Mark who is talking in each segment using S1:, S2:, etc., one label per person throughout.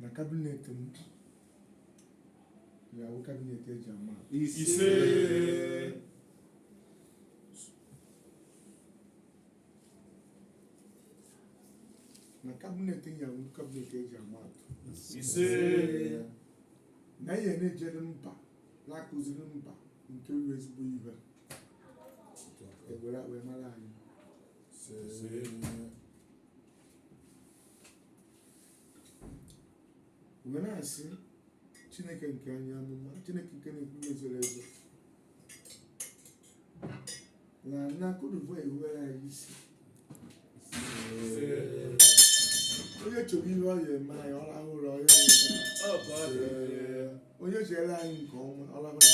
S1: na cabinet m ga-awụ cabinet eji ama atụ. ise na cabinet m ga-awụ cabinet eji ama atụ. ise na ihe na-ejere mba na-akụziri mba nke bụ ezigbo ihe ewere wee mara anyị ise wee na-asị chineke nke anyị amụma chineke nke na-ekwu ihe zoro ezo na na Cote d'Ivoire ewere anyị isi onye chọrọ ihe ọ ya eme anyị ọ rahụ ụra ọ ya onye chere anyị nke ọma ọ rahụ ụra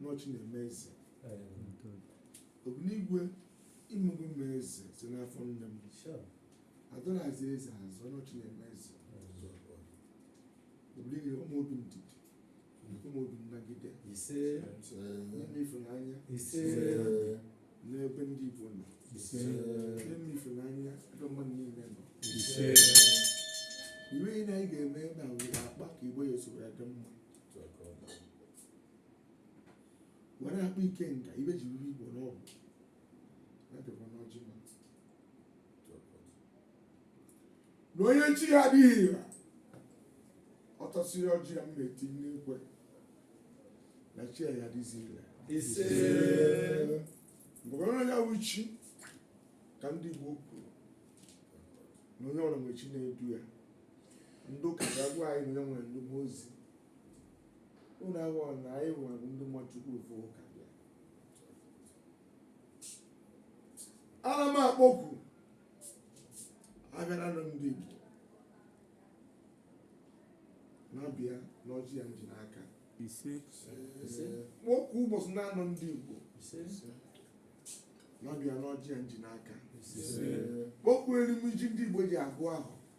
S1: n'ọ chi na-eme eze obinigwe i mego m eze si n'afọ nne m adịrọ azọ eze azọ n'ọ chi na-eme eze obinigwe nye mụ obi ndidi nye mụ obi nnagide ise nye m ịfụnanya ise n'ebe ndị Igbo nọ ise nye m ịfụnanya ebe mmadụ niile nọ ise iwe ihe na anyị ga-eme na were akpa ka Igbo ya esoro ya dị mma were akpa ike nka ibe ji ruru igbo n'ọgwụ na-edekwa n'ọjị ma na onye chi ya adịghị ire ọ tasịa ọjị a m na-eti n'ekwe na chi ya ya adịzi ire ise mgbe ya wụ chi ka ndị igbo kwuru na onye ọbụla nwere chi na-edu ya ndị ụka ga-agwa anyị na onye nwere ndị mmụọ ozi unu aghọọ na anyị nwere ndị mmụọ chukwu ofu ụka bịa ana m akpọku agbara anọ ndị igbo na-abịa n'ọjị a m ji n'aka ise kpọku ụbọchị na-anọ ndị igbo na-abịa n'ọjị a m ji n'aka kpọku erimiji ndị igbo ji agụ afọ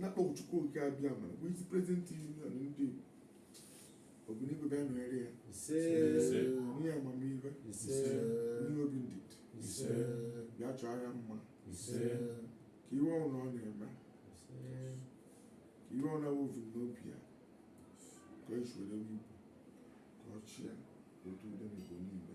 S1: na-akpọ Chukwu okike abịama vice president union ndị Igbo obinigwe bịa nọnyere ya ise Ise. nye ya amamihe ise nye obi ndidi ise bịa chọọ ya mma ise ka ihe ọbụla ọ na-eme ise ka ihe ọ na-evu n'obi ya ka o si were Igbo ka ọ chịa otu udo n'Igbo niile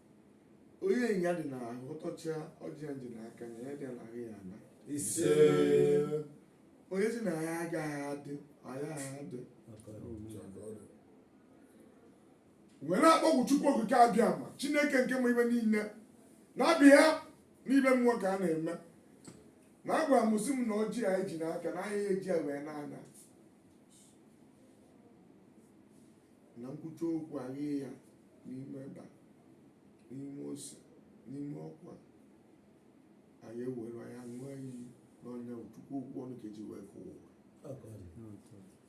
S1: onye ọya dị n'ahụ ọ tachaa ọjị a m ji n'aka na ọya dị n'ahụ ya alaa ise onye sị na ya agaghị adị anyị ga-adị wee na-akpọku chukwu okike abịama chineke nke ma ife niile na-abịa n'ibe mmụọ ka a na-eme na-agwa m sị m na ọjị anyị ji n'aka na anyị eji ya wee na-ana na nkwucha okwu anyị ya n'ime ebe a n'ime ose n'ime ọkwa anyị ewere ya ṅụọ iyi n'ọnụ chukwu okwu ọnụ ka e ji wee kụwa ụwa